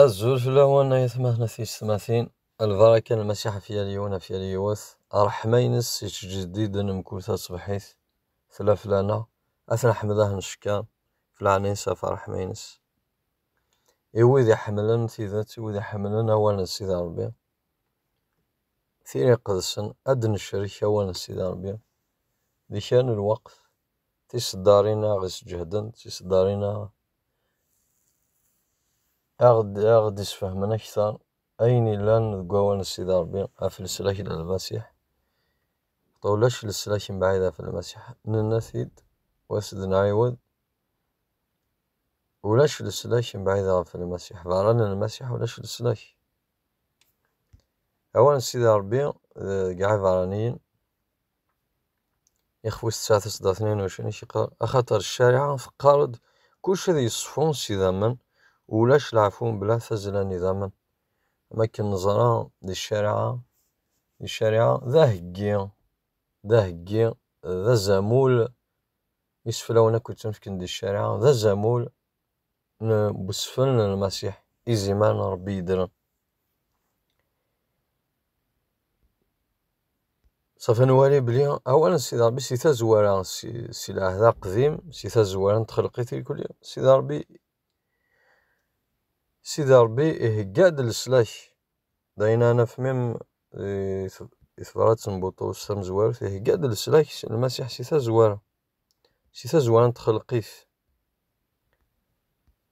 Azul fell-awen ay atmaten a tiyessetmatin, lbaraka n Lmasiḥ ɣef yal yiwen ɣef yal yiwet, ṛṛeḥma-ines yettjeddiden mkul taṣebḥit, tella fell-aneɣ, ad t-neḥmed ad t-ncekker, ɣef leɛnaya-ines ɣef ṛṛeḥma-ines. I wid iḥemmlen tidet, i wid iḥemmlen awal n Sidi Ṛebbi, tira iqedsen, ad d-necrek awal n Sidi Ṛebbi di kra n lweqt, tiseddarin aɣ isǧehden tiseddarin a aɣ-d isfehmen akter ayen illan deg wawan n sidi rebbi af leslak n lmasiḥ ulac leslak mebɛid af lmasiḥ nenna tid was d nɛiwed ulac leslak mebɛid af lmasiḥ berra n lmasiḥ ulac leslak awan n sidi rebbi deg iɛiberniyen ixef wis tesɛa tiseḍ tnin ucen iciqer axaṭer ccariɛa teqqar-d kullec ad yeṣfu s idammen ulac leɛfu mebla tazzla n idammen am akken neẓra di ccariɛa di ccariɛa d aheggi d aheggi d azamul iseflawen akk yettnefken di ccariɛa d azamul n usefren n Lmasiḥ, izimer n Ṛebbi yeddren. Ṣṣafa nwali belli awal n Sidi Ṛebbi si tazwara, si lɛehd aqdim, si tazwara n txelqit ilkuli, Sidi Ṛebbi, Sidi Ṛebbi ihegga-d leslak. D ayen ara naf mim di tebṛat n Buṭrus tamezwarut, ihegga-d leslak n Lmasiḥ si tazwara. Si tazwara n txelqit,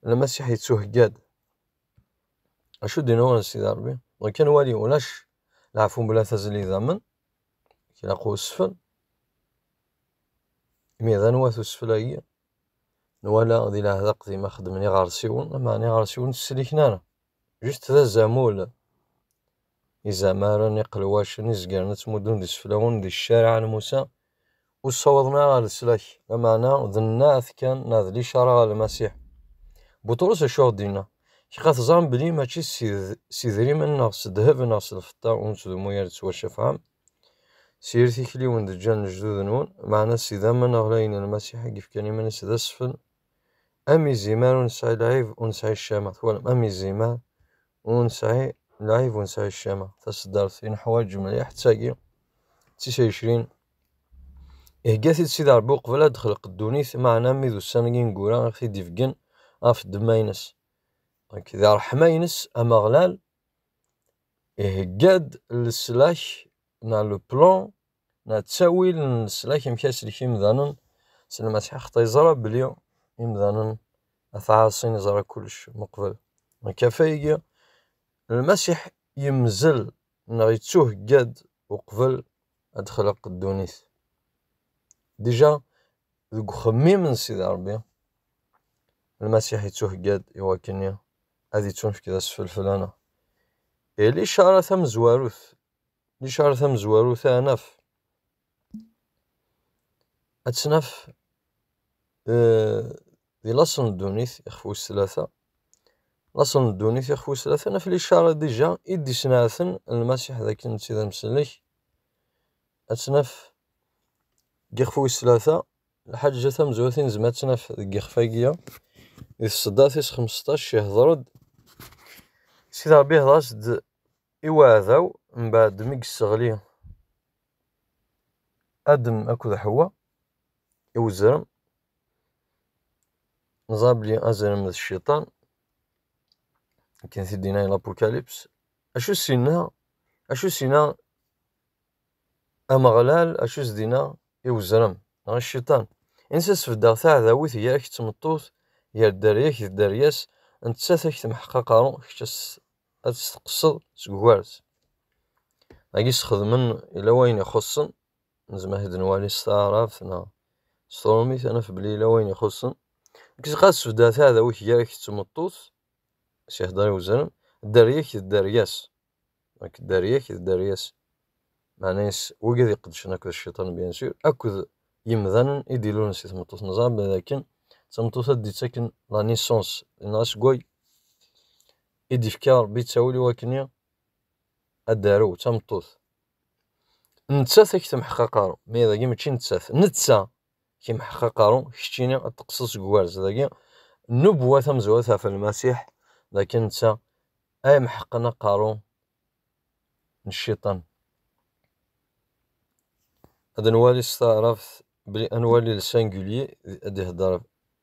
Lmasiḥ yettuhegga-d. Acu d-yenna ɣur Sidi Ṛebbi? Dɣa kan wali, ulac leɛfu mebla tazli damen, ilaq usfel. Imi d anwa-t usfel-agi? Nwala di leɛdaq di ma xeddmen iɣersiwen, meɛna iɣersiwen ur tt-sliken ara. Just d azamul, izamaren iqelwacen i zegren ad ttmuddun d iseflawen di ccariɛa n Musa, ur ssawḍen ara ɣer leslak, lameɛna d nneɛt kan neɣ d licara ɣer Lmasiḥ. Buṭrus acu aɣ-d-yenna? Kka teẓram belli mačči s idrimen neɣ s ddheb neɣ s lfeṭṭa ur nettdummu ara ttwacafɛem, s yir tikliwin d-ǧǧan lejdud-nwen, meɛna s idammen ɣlayen n Lmasiḥ i yefkan iman-is d asfel, Am izimer ur nesɛi lɛib ur nesɛi ccama, twalem, am izimer ur nesɛi lɛib ur nesɛi ccama. Taseddart i neḥwaǧ mliḥ d tagi, d tis ɛecrin. Ihegga-t-id Sidi Ṛebbi uqbel ad d-texleq ddunit, meɛna mi d ussan n yineggura i ɣ-t-id-ibeggen ɣef ddemma-ines. Nekk d ṛṛeḥma-ines, Ameɣlal ihegga-d leslak neɣ le plan Na ttawil n leslak amek aslek imdanen s lmasiḥ xeṭṭa yeẓra belli imdanen at ɛaṣin yeẓra kullec meqbel lkafa igi lmasiḥ yemzel neɣ yettuhegga-d uqbel ad d-xleq ddunit dija deg uxemmim n sidi rebbi lmasiḥ yettuhegga-d i wakken ad yettunefk d asfelfel ana ili cara tamezwarut Licar tamezwarut-a ad naf ad tt-naf di laṣel n ddunit ixef wis tlata, laṣel n ddunit ixef wis tlata naf licar dija i d-isneɛten Lmasiḥ d akken netta d amsellek, ad tt-naf deg yixef wis tlata, lḥaǧa tamezwarut i nezmer ad tt-naf deg yixef-agi ya, di tseddart tis xmesṭac ihdeṛ-d Sidi Ṛebbi ihdeṛ-as-d. I uɛdaw, mbaɛd mi yesseɣli Adem akked Ḥewwa i uzrem, neẓra belli azrem d cciṭan, akken t-id-yenna L'apocalypse. Acu s-yenna, acu s-yenna Ameɣlal, acu s-d-yenna i uzrem neɣ i cciṭan? Ini-as ad sbeddeɣ taɛdawit gar-k d tmeṭṭut, gar dderya-k d dderya-s, nettat ad k-temḥeq aqerru, kečč ad ad testeqseḍ seg ugares agi sxedmen ila wayen ixuṣṣen nezmer ad nwali s taɛrabt neɣ s tṛumit ad naf belli ila wayen ixuṣṣen kkes ɣas bda taɛdawit gar-ak d tmeṭṭut sihdeṛ i uzrem dderya-k d dderya-s nek dderya-k d dderya-s meɛna yes wigad iqedcen akked cciṭan bien sûr akked yemdanen i d-ilulen si tmeṭṭut neẓra belli akken d tameṭṭut ad d-ittaken la naissance neɣ asewway i d-ifka Rebbi ttawil i wakken ad d-tarew d tameṭṭut. Nettat ad k-temḥeq aqaru, ma dagi mačči nettat, netta k-imḥeq aqaru, keččini ad teqqseḍ seg ugerz. Dagi nnubuwa tamezwarut ɣef Lmasiḥ, d akken netta ay imḥeqqen aqaru n cciṭan. Ad nwali s taɛrabt belli ad nwali le singulier ad ihedder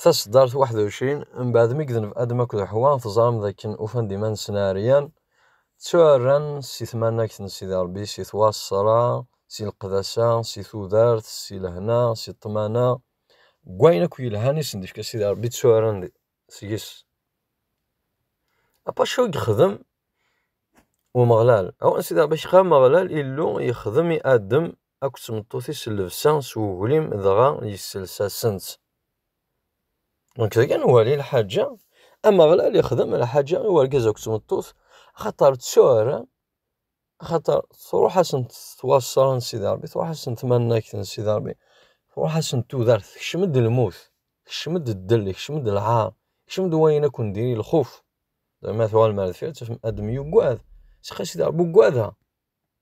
Taseddart waḥed u εecrin, mbeɛd mi gden Adem akked Ḥwa, teẓram d akken ufan-d iman-nsen ɛeryan, ttuɛerran si tmanagt n Sidi Ṛebbi, si twaṣṣra, si leqdasa, si tudert, si lehna, si ṭṭmana, deg wayen akk yelhan i sen-d-ifka Sidi Ṛebbi, ttuɛerran seg-s. Apa acu i yexdem Umeɣlal? Awal n Sidi Ṛebbi, Ixxam Ameɣlal, Illu, yexdem i Adem akked tmeṭṭut-is llebsa s weglim dɣa yessels-asen-tt. Nekk dagi nwali lḥaǧa, Ameɣlal ixdem lḥaǧa i urgaz akked tmeṭṭut, axaṭer ttuɛran, axaṭer truḥ-asent twaṣṣra n Sidi Ṛebbi, truḥ-asent tmannagt n Sidi Ṛebbi, truḥ-asent tudert, tekcem-d lmut, tekcem-d ddel, tekcem-d lɛaṛ, tekcem-d wayen akk n diri lxuf. Ma tuɣalem ar deffir ad tafem Adem yuggad, seqqa Sidi Ṛebbi uggadeɣ.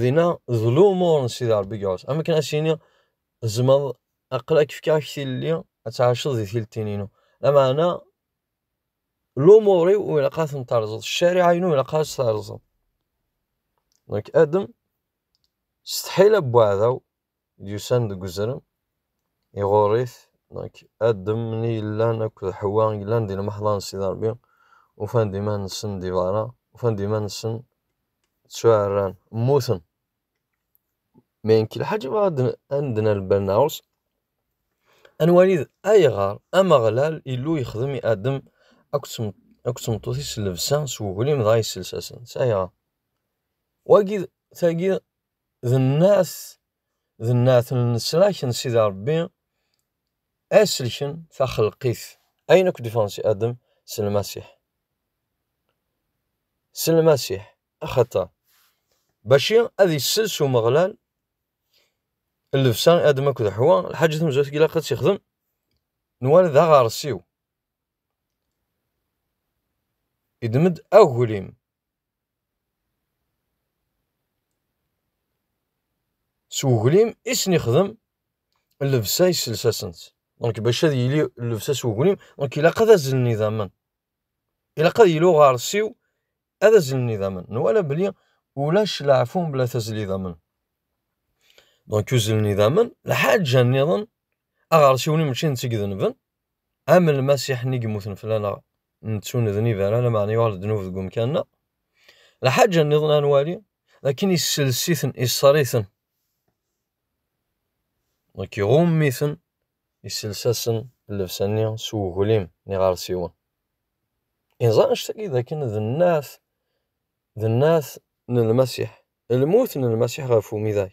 Dinna d lumuṛ n Sidi Ṛebbi Gawes. Am akken ad s-iniɣ tzemreḍ aql ak fkiɣ ak tilelli ad tɛaceḍ di tiltin-inu. Lameɛna lumuṛ-iw ur ilaq ad ten-terẓeḍ, ccariɛa-inu ilaq ad s-terẓeḍ. Nekk Adam, s tḥila n uɛdaw, yusan deg uzrem, iɣurr-it, nek, Adem, nni yellan akk d Ḥewwa yellan di lmeḥḍa n Sidi Ṛebbi, ufan-d iman-nsen di beṛṛa, ufan-d iman-nsen ttuɛerran, mmuten. Ma nek lḥaǧ i bɣa ad d-nerr lbal-nneɣ, ad nwali d ayɣer Ameɣlal, Illu, yexdem i Adem akked tmeṭṭut-is llebsa s uglim dɣa yessels-asen-tt. Ayɣer? Wagi, tagi, d nnat d nnat n lesrak n Sidi Ṛebbi aselken taxelqit ayen akk d-iffɣen si Adem s Lmasiḥ s Lmasiḥ axaṭer baci ad issels Umeɣlal llebsa i Adem akked Ḥwa lḥaǧ i temzut ilaq ad tt-ixdem nwala d aɣersiw iddem-d aglim s uglim i sen-ixdem llebsa yessels-asent donc bac ad yili llebsa s uglim donc ilaq ad azlen idammen ilaq ad yili uɣersiw ad azlen idammen nwala beli ulac leɛfu mebla tazli idammen donc uzlen idammen lḥaǧa-nniḍen aɣersiw-nni mačči netta i idenben am lmasiḥ-nni yemmuten fell-aneɣ nettuned nibaran, lameɛna yuɣal ddnub deg umkan-a. Lḥaǧa nniḍen ad nwali, akken isels-iten, iṣer-iten, nekk iɣumm-iten, isels-asen llebsa-nni s uglim n iɣersiwen. Inẓan anect-agi d akken d nnat, d nnat n lmasiḥ, lmut n lmasiḥ ɣef umidag.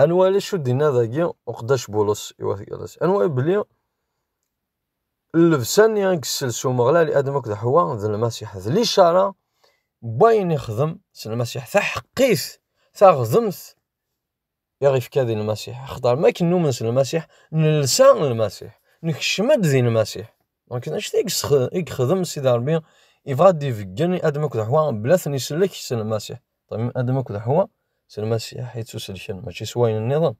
ad nwali acu d-inna dagi uqeddac Bulus i wat Gallas. Ad nwali belli llebsa-nni i yessels Umeɣlal i Adam akked Ḥwa d Lmasiḥ, d licara n wayen ixdem s Lmasiḥ, taḥeqqit, taɣdemt i ɣ-ifka di Lmasiḥ. Axaṭer mi akken numen s Lmasiḥ, nelsa Lmasiḥ, nekcem-d di Lmasiḥ. Donc, anect i yexdem Sidi Rebbi, yebɣa ad d-ibeggen i Adam akked Ḥwa mebla ad ten-isellek s Lmasiḥ. Adam akked Ḥwa s Lmasiḥ i ttuselken, mačči s wayen nniḍen.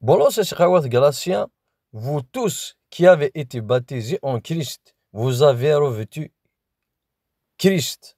Bolos es ɣawat Galatia, vous tous qui avez été baptisés en Christ, vous avez revêtu Christ.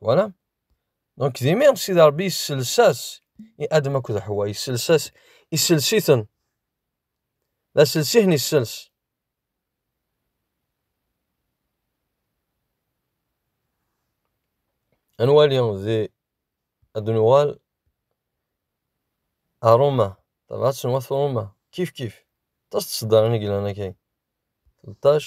Voilà. Donc, d imir, si d Rebbi yessels-as i Adam akked Ḥwa, yessels-as, yessels-iten. D asels-ihen yessels. Ad nwali di ad nuɣal a Roma, tabɣat n wat Roma, kif kif. Aṭas n tseddarin i yellan akay. Ṭṭac.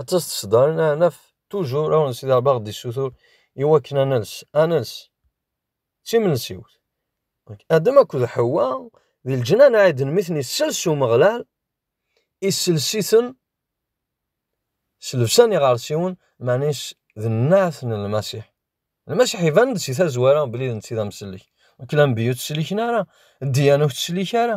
ad tas tesdarin ad naf tuzur awen n Sidi Rebbi aɣ-d issutur i wakken ad nels ad nels d timensiwt Adem akked Ḥewwa di leǧnan Ɛiden mi ten-isels Umeɣlal isels-iten s llebsa n iɣersiwen meɛna d nneɛt n Lmasiḥ Lmasiḥ iban-d si tazwara belli d netta i d amsellek nek d anebbi ur tt-sliken ara ddiyana ur tt-slik ara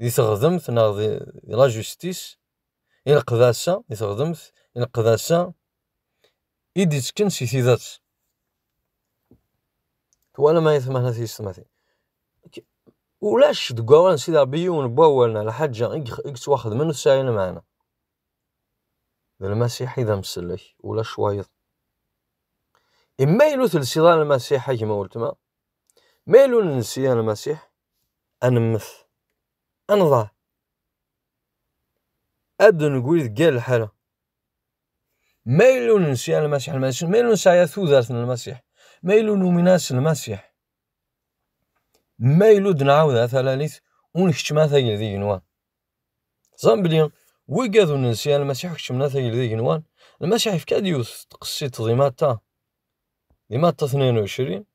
di teɣdemt neɣ di la justice i leqdasa di teɣdemt i leqdasa i d-ittekken si tidet twalam ay tmahna tiyessetmatin ulac deg wawal n Sidi Ṛebbi yiwen n wawal neɣ lḥaǧa i yettwaxedmen ur tesɛi lmeɛna d lmasiḥ i d amsellek ulac wayeḍ imma yella ur telsiḍ ara lmasiḥ a gma weltma ma yella ur nelsi ara lmasiḥ ad nemmet, ad nḍeɛ, ad d-negri deg yal lḥala. Ma yella ur nensi ara Lmasiḥ, ma yella ur nesɛi ara tudert n Lmasiḥ, ma yella ur numin ara s Lmasiḥ, ma yella ur d-nɛawed ara talalit, ur nkeččem ara tagelt n yigenwan. Teẓram belli wigad ur nensi ara Lmasiḥ ur keččmen ara tagelt n yigenwan, Lmasiḥ yefka-d yiwet n tqessiṭ di Matta, di Matta tniyen u ɛecrin,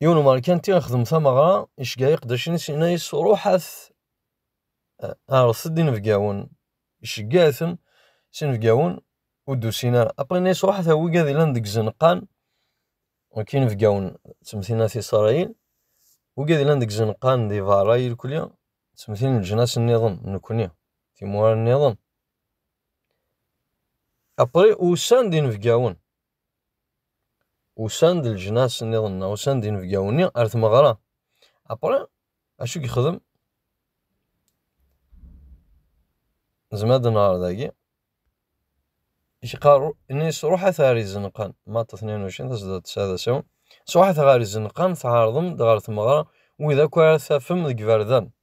yiwen umerkanti ixdem tameɣra iceggeɛ iqeddacen-is yenna-yas ruḥet ɛerḍet-d inebgawen iceggeɛ-ten s inebgawen ur d-usin ara après yenna-yas ruḥet a wigad yellan deg izenqan ok inebgawen ttmtin at Isṛayil wigad yellan deg izenqan di beṛṛa irkli ttmtin leǧnas-nniḍen nekkni timura-nniḍen Après, usan-d inebgawen. Usan-d leǧnas nniḍen neɣ usan-d inebgawen-nni ar tmeɣra. Après, acu i yexdem? Nezmer ad nɣer dagi. Iqar, nis ruḥet ar izenqan. Maṭ 22, tasdadt 9 d asawen. Sruḥet ɣer izenqan, tɛerḍem-d ɣer tmeɣra wid akk ara tafem deg iberdan.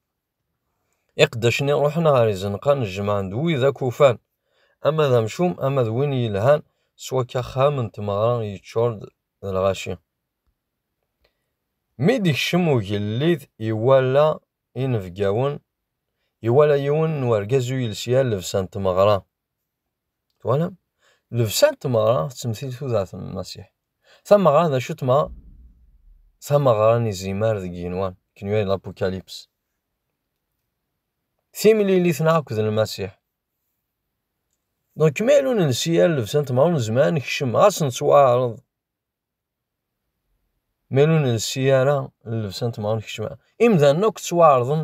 Iqeddacen-nni ruḥen ɣer izenqan, jemɛen-d wid akk ufan, ama d amcum, ama d win yelhan, s wakka axxam n tmeɣra yeččur-d d lɣaci. Mi d-ikcem ugellid, iwala inebgawen, iwala yiwen n urgaz ur yelsi ara llebsa n tmeɣra. Twalam? Lebsa n tmeɣra tettemtil tudert n Lmasiḥ. Tameɣra d acu tmeɣra? Tameɣra n izimar deg yenwan, kenwi ay l'apocalypse. Timlilit neɣ akked Lmasiḥ. Donc, ma yella ur nelsi ara lebsa n tmeɣra, ur nezmer ad nekcem, ɣas nettwaɛreḍ. Ma yella ur nelsi ara lebsa n tmeɣra, nekcem. Imdanen akk ttwaɛerḍen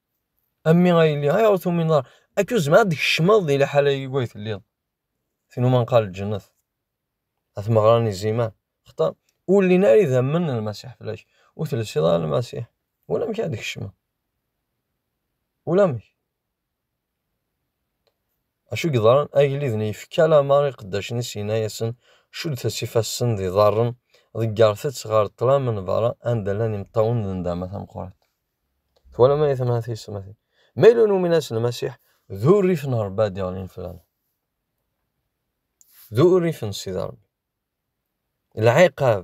A mmi a yelli, ayɣer ur tumineḍ ara? Akka ur tezmireḍ ad d-tkecmeḍ di liḥala-agi ay telliḍ. Tin umi nqal lǧennet. A tmeɣra n iziman. Xaṭer ur llin ara idammen n Lmasiḥ fell-ak. Ur telsiḍ ara Lmasiḥ. Ulamek ara d-tkecmeḍ. Ulamek. Acu yeḍran, agellid-nni yefka lameṛ i iqeddacen-is yenna-yasen, Cuddet-as ifassen d iḍarren, ḍeggret-tt ɣer ṭṭlam n beṛṛa anda llan imeṭṭawen d nndama tameqqrant. Twalam ay atma tiyesmatin? Ma yella ur numin ass n Lmasiḥ, d urrif n Ṛebbi ad d-iɣlin fell-aneɣ. D urrif n Sidi Ṛebbi. Lɛiqab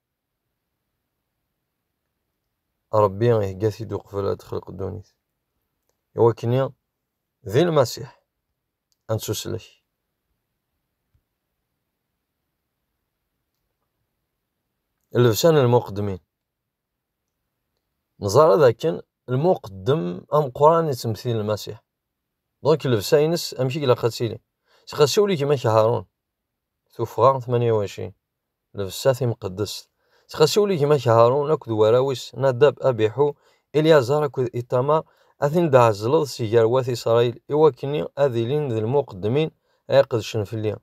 Ṛebbi ihegga-t-id uqbel ad texleq ddunit. I wakk-nni, d Lmasiḥ, ad nettuslek. Llebsa n lmuqeddmin. Neẓra d akken lmuqeddem ameqqran yettemtil Lmasiḥ. Donc llebsa-ines amek i ilaq ad tili. Sqasi ul-ik ma k Haṛun, Tuffɣa 28. Nebsa timqeddest. Sxasiwel i gma-k Haṛun akked warraw-is Nadab, Abiḥu, Ilyaẓar akked Iṭamar, ad ten-id-tɛezzleḍ si gar wat Isṛayil, i wakken-i ad ilin d lmuqeddmin ara iqedcen fell-i.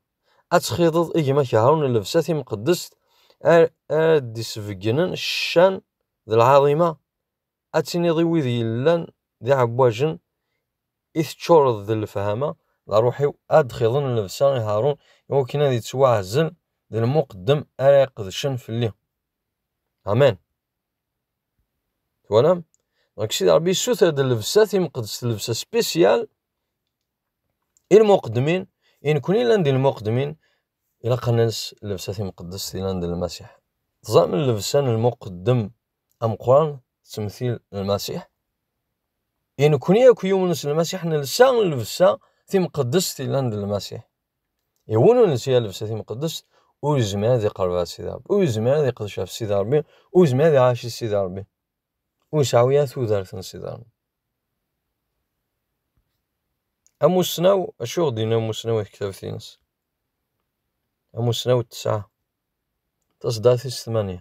Ad txiḍeḍ i gma-k Haṛun llebsa timqeddest ara d-isbeggnen ccan d lɛaḍima Ad tiniḍ i wid yellan d iɛeggwajen i teččureḍ d lefhama, d aṛuḥ-iw ad d-xiḍen llebsa i Haṛun i wakken ad ittwaɛzel d lmuqeddem ara iqedcen fell-i. Amen. Twalam? Dɣek Sidi Ṛebbi yessuter-d llebsa timqeddest, llebsa spéciale i lmuqeddmin, i nekkni llan d lmuqeddmin, ilaq ad nels llebsa timqeddest yellan d Lmasiḥ. Teẓram llebsa n lmuqeddem ameqqran d temtil n Lmasiḥ. I nekkni akk yumen s Lmasiḥ nelsa llebsa timqeddest yellan d Lmasiḥ. I win ur nesɛi llebsa timqeddest ur yezmir ad iqerreb ɣer Sidi Ṛebbi, ur yezmir ad iqdec ɣef Sidi Ṛebbi, ur yezmir ad iɛac i Sidi Ṛebbi. Ur yesɛu ara tudert n Sidi Ṛebbi. Amussnaw, acu ɣ-d-yenna amussnaw i tektabt-ines? Amussnaw tesɛa taṣeddart-is tmanya.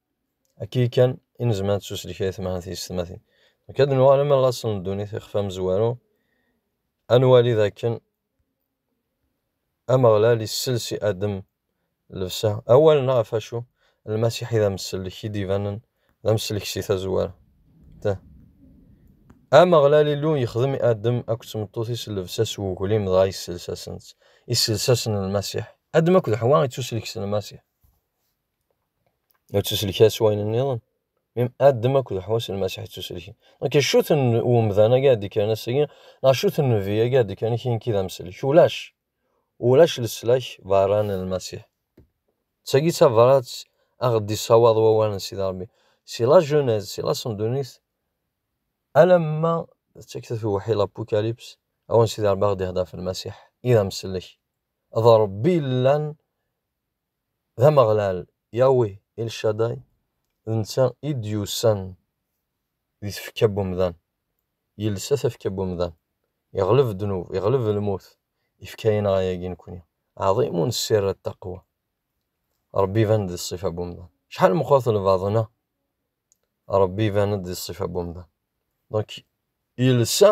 Akka ikan i nezmer ad nettuslek ay tmahat yessetmatin. Nekk ad nuɣal am laṣel n ddunit ixef amezwaru, ad nwali dakken Ameɣlal issels i Adem llebsa. Awalen-a ɣef wacu Lmasiḥ i d amsellek i d-ibanen d amsellek si tazwara. Ta. Ameɣlal Illu yexdem i Adem akked tmeṭṭut-is llebsa s weglim dɣa yessels-asen-tt. Yessels-asen Lmasiḥ. Adem akked Ḥwa ittuslek s Lmasiḥ. Ad tuselka s wayen nniḍen. Adem akked uḥwas n Lmasiḥ d tuselki. Nek acu-t n umdan agi ad d-ikkren ass-agi, neɣ acu-t n nnbi agi ad d-ikkren akin nekki d amsellek? Ulac. Ulac leslak berra n Lmasiḥ. D tagi d tabrat a ɣ-d-issawaḍ wawal n Sidi Rebbi. Si la Genèse, si la Sendunit, alamma d takta tewḥi l'Apocalypse, awen Sidi Rebbi a ɣ-d-ihder ɣef Lmasiḥ i d amsellek. D Rebbi yellan D Ameɣlal, Yahweh El Shaddai, d netta i d-yusan di tfekka n umdan, yelsa tafekka n umdan, iɣleb ddnub, iɣleb lmut, ifka-aneɣ ayagi nekni, Ɛḍimun Ssir At-Taqwa, Ṛebbi iban-d di ṣṣifa n umdan, acḥal meqqret lbaḍna, Ṛebbi iban-d di ṣṣifa n umdan, donc yelsa.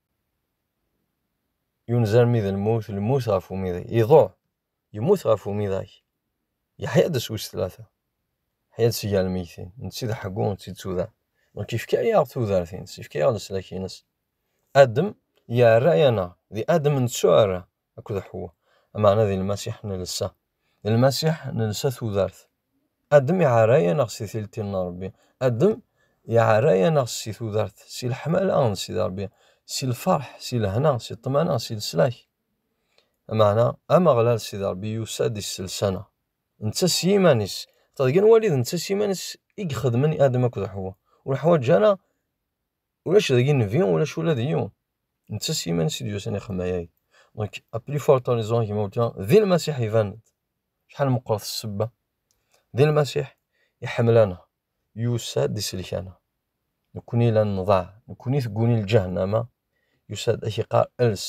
yunez armi d lmut lmut ɣef umidag iḍuɛ yemmut ɣef umidag yeḥya-d s wis tlata yeḥya-d si gar lmegtin netti d ḥeggu netti d tuda donc yefka-yaɣ tudert-ines yefka-yaɣ leslak-ines adem yerra-yaneɣ di adem nettuɛerra akked Ḥewwa. Ameɛna di Lmasiḥ nelsa. Di Lmasiḥ nelsa tudert. Adem iɛerra-yaneɣ si tilti n Ṛebbi. Adem iɛerra-yaneɣ si tudert, si leḥmala n Sidi Ṛebbi, si lfeṛḥ, si lehna, si ṭṭmana, si leslak. Ameɛna Ameɣlal Sidi Ṛebbi yusa-d isselsa-neɣ. Netta s yiman-is. Ṭṭeḍgen walid netta s yiman-is i ixedmen i Adem akked Ḥewwa. Ur ḥwaǧ ara ulac dagi nnbi ulac ula d yiwen netta s yiman-is i d-yusan ixemmay-agi donc à plus forte raison kma wultma di lmasiḥ iban-d شحال meqqret ssebba di lmasiḥ iḥemmel-aneɣ yusa-d isellek-aneɣ nekkni la nḍaɛ nekkni tegguni lǧahennama yusa-d ad k-iqqar els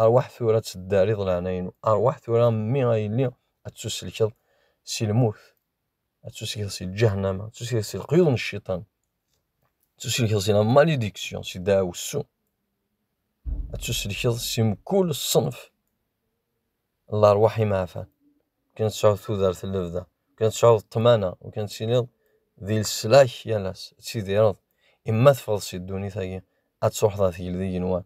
arwaḥ tura ad teddariḍ leɛnaya-inu arwaḥ tura mmi ay yelli ad tusellkeḍ si lmut ad tusigeḍ si lǧahnama, ad tusigeḍ si leqyud n cciṭan, ad tusigeḍ si la malédiction, si ddaɛwessu, ad tuselkeḍ si mkul ṣṣenf n lerwaḥ imeɛfan. Kan ad tesɛuḍ tudert n lebda, kan ad tesɛuḍ ṭṭmana, u kan ad tiliḍ di leslak yal ass, ad tidireḍ, i ma teffɣeḍ si ddunit-agi, ad truḥeḍ ɣer tgelda n yigenwan.